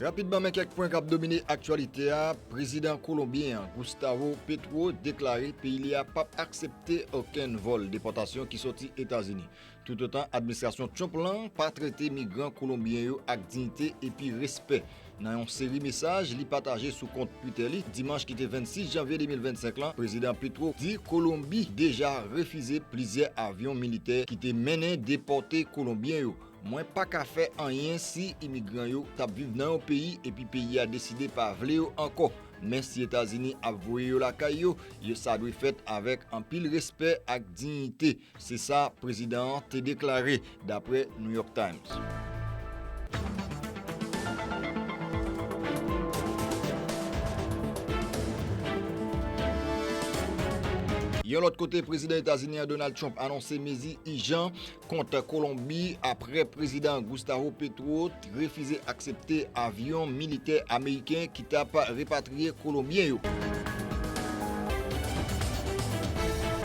Rapidman men kèk pwen kap domine aktyalite a, prezidan kolonbyen an Gustavo Petro deklare peyi li a pap aksepte okenn vòl depòtasyon ki soti Etazini. Toutotan administrasyon Trump lan pa trete migran kolonbyen yo ak diyite epi respè. Nan yon seri mesaj li pataje sou kont Twitter li, dimanch ki te 26 janvye 2025 lan, Prezidan Petro di Kolonbi deja refize plizyè avyon militè ki te mennen depòte kolonbyen yo. Mwen pa ka fè anyen si imigran yo t ap viv nan yon peyi epi peyi a deside pa vle yo ankò. Men si Etazini ap voye yo lakay yo, yo sa dwe fèt avèk anpil respè ak diyite. Se sa prezidan an te deklare, dapre New York Times. Yon lòt kote, prezidan Etazini an Donald Trump anonse mezi ijan kont Kolonbi apre prezidan Gustavo Petro Refize aksepte avyon militè ameriken ki tap repatriye kolonbyen yo.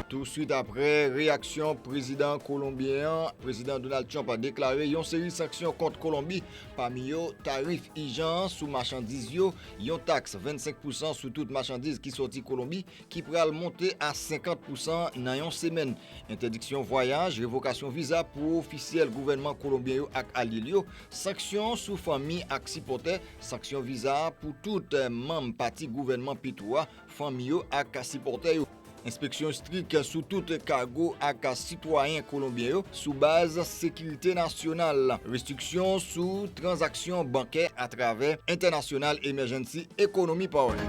Tou swit apre reyaksyon prezidan kolonbyen an, Prezidan Donald Trump deklare yon seri sanksyon kont Kolonbi, pami yo tarif ijan an sou machandiz yo, yon taks 25 pousan sou tout machandiz ki sòti Kolonbi, ki pral monte a 50 pousan nan yon semèn. Entèdiksyon vwayaj, revokasyon viza pou ofisyèl gouvènman kolonbyen yo ak alye l yo, sanksyon sou fanmi ak sipòtè, sanksyon viza pou tout manm pati gouvènman Petro a, fanmi yo ak sipòtè yo, enspeksyon estrik sou tout kago ak sitwayen kolonbyen yo, sou baz sekirite nasyonal, restriksyon sou tranzaksyon bankè atravè International Emergency Economy Power.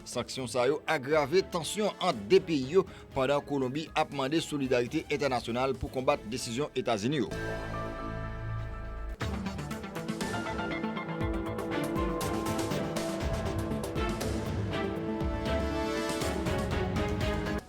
Sanksyon sa yo agrave tansyon ant 2 peyi yo pandan Kolonbi ap mande solidarite entènasyonal pou konbat desizyon Etazini yo.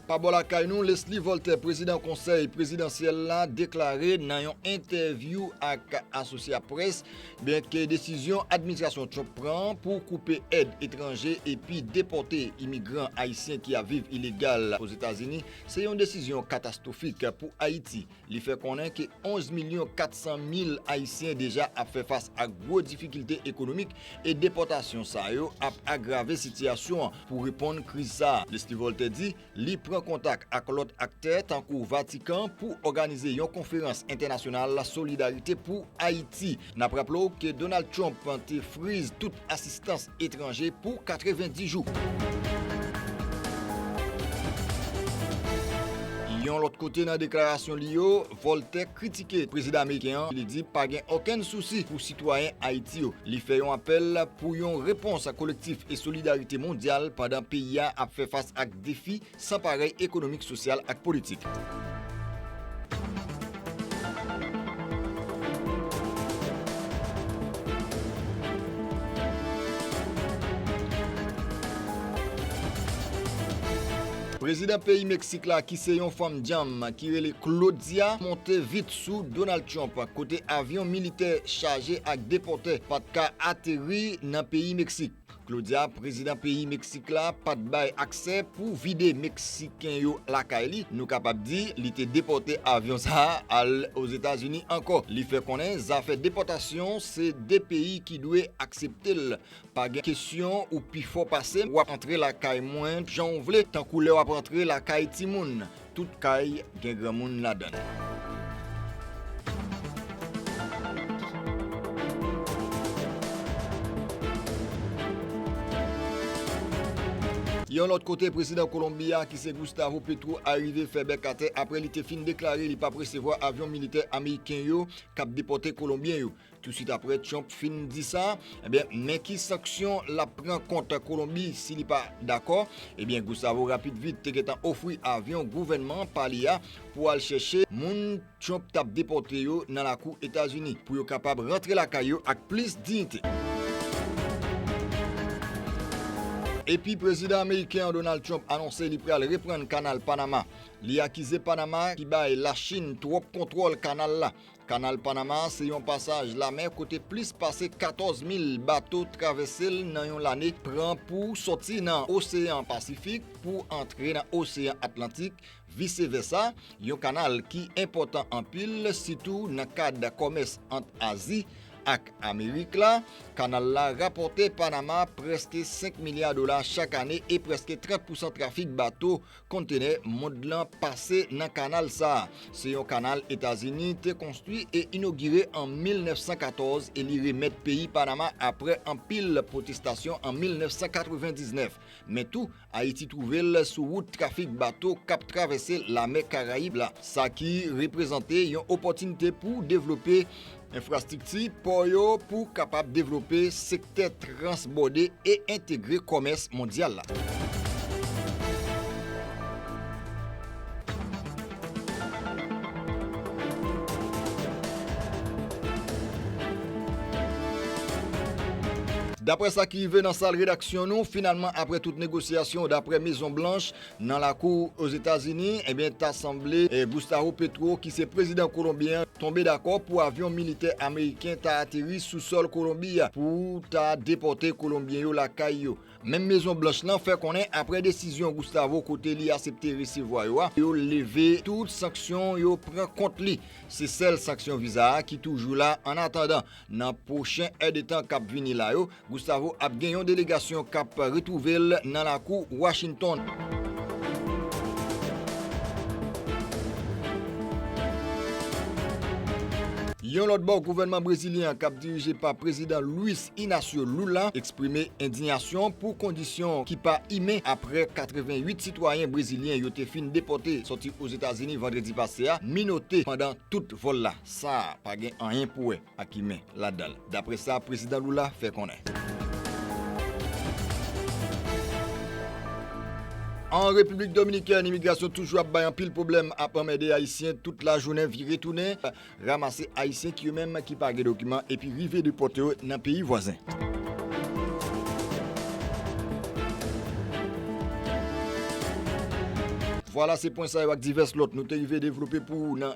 Pa bò lakay nou, Leslie Voltaire, prezidan konsèy prezidansyèl la, deklare nan yon entèvyou ak Associa Press byen ke desizyon administrasyon Trump pran pou koupe èd etranje epi depòte imigran ayisyen ki ap viv ilegal Ozetazini se yon desizyon katastwofik pou Ayiti. Li fè konnen ke 11 milyon 400 mil Ayisyen deja ap fè fas ak gwo difikilte ekonomik e depòtasyon sa yo ap agrave sitiyasyon an pou reponn kriz sa a. Leslie Voltaire di li pran kontak ak lòt aktè tankou Vatikan pou òganize yon konferans entènasyonal solidarite pou Ayiti. N ap raple w ke Donald Trump te friz tout asistans etranje pou 90 jou. Yon lòt kote nan deklarasyon li yo, Volter kritike prezidan ameriken an, li di pa gen okenn sousi pou sitwayen Ayiti yo. Li fè yon apèl pou yon repons kolektif e solidarite mondyal pandan peyi a ap fè fas ak defi San parèy ekonomik sosyal ak politik. Prezidan peyi Meksik la ki se yon fanm dyanm ki rele Claudia monte vit sou Donald Trump kote avyon militè chaje ak depòtè pat ka ateri nan peyi Meksik. Claudia, prezidan peyi Meksik la pa t bay aksè pou vide Meksiken yo lakay li, nou kapab di li te depòte avyon sa a al Ozetazini ankò. Li fè konnen zafè depòtasyon se 2 peyi ki dwe aksepte l, pa gen kesyon ou pi fò pase m, w ap antre lakay mwen jan w vle tankou lè w ap antre lakay timoun. Tout kay gen granmoun ladann. Yon lòt kote, prezidan Kolonbi a ki se Gustavo Petro arive fè bèk atè apre li te fin deklare li pap resevwa avyon militè ameriken yo kap depòte kolonbyen yo. Tousuit apre Trump fin di sa, ebyen men ki sanksyon l ap pran kont Kolonbi si li pa dakò. Ebyen Gustavo rapid vit te gentan ofri avyon gouvènman pa li a pou al chèche moun Trump t ap depòte yo nan lakou Etazini pou yo kapab rantre lakay yo ak plis diyite. Epi Prezidan ameriken an Donald Trump anonse li pral reprann Kanal Panama. Li akize Panama ki bay Lachin twòp kontwòl kanal la. Kanal Panama se yon pasaj lamè kote plis pase 14 mil bato travèse l nan yon lane, pran pou sòti nan Oseyan Pasifik pou antre nan Oseyan Atlantik, vise vèsa, yon kanal ki enpòtan anpil, sitou nan kad kòmès ant Azi ak Amerik la. Kanal la rapòte Panama prèske 5 milya dola chak ane e prèske 30 pousan trafik bato Kontenè mond lan pase nan kanal sa a. Se yon kanal Etazini te konstwi e inogire an 1914 e li remèt peyi Panama apre anpil pwotestasyon an 1999. Men tou, Ayiti twouve l sou wout trafik bato k ap travèse Lamè Karayib la, sa ki reprezante yon opòtinite pou devlope Enfrastrikti pò yo pou kapab devlope sektè transbòde e entegre kòmès mondyal la. Daprè sa ki rive nan sal redaksyon nou, finalman aprè tout negosyasyon daprè Mezon Blanch, Nan lakou Ozetazini, ebyen ta sanble Gustavo Petro ki se prezidan kolonbyen an tonbe dakò pou avyon militè ameriken ta ateri sou sòl Kolonbi a pou ta depòte kolonbyen yo lakay yo. Menm Mezon Blanch lan fè konnen aprè desizyon Gustavo kote li asepte resevwa yo a, yo leve tout sanksyon yo pran kont li. Se sèl sanksyon viza a ki toujou la annatandan. Nan pwochen èdetan k ap vini la yo, Gustavo ap gen yon delegasyon k ap retwouve l nan lakou Washington. Yon lòt bò, gouvènman brezilyen an k ap dirije pa Prezidan Luiz Inacio Lula eksprime endinyasyon pou kondisyon ki pa imen aprè 88 sitwayen brezilyen yo te fin depòte sòti Ozetazini vandredi pase a minote pandan tout vòl la. Sa a pa gen anyen pou wè ak imen ladan l, dapre sa Prezidan Lula fè konnen. An Repiblik Dominikèn, imigrasyon toujou ap bay anpil pwoblèm, ap anmède Ayisyen tout lajounen, vire tounen, ramase Ayisyen ki yo menm ki pa gen dokiman epi rive depòte yo nan peyi vwazen. Vwala se pwen sa yo ak divès lòt nou te rive devlope pou ou nan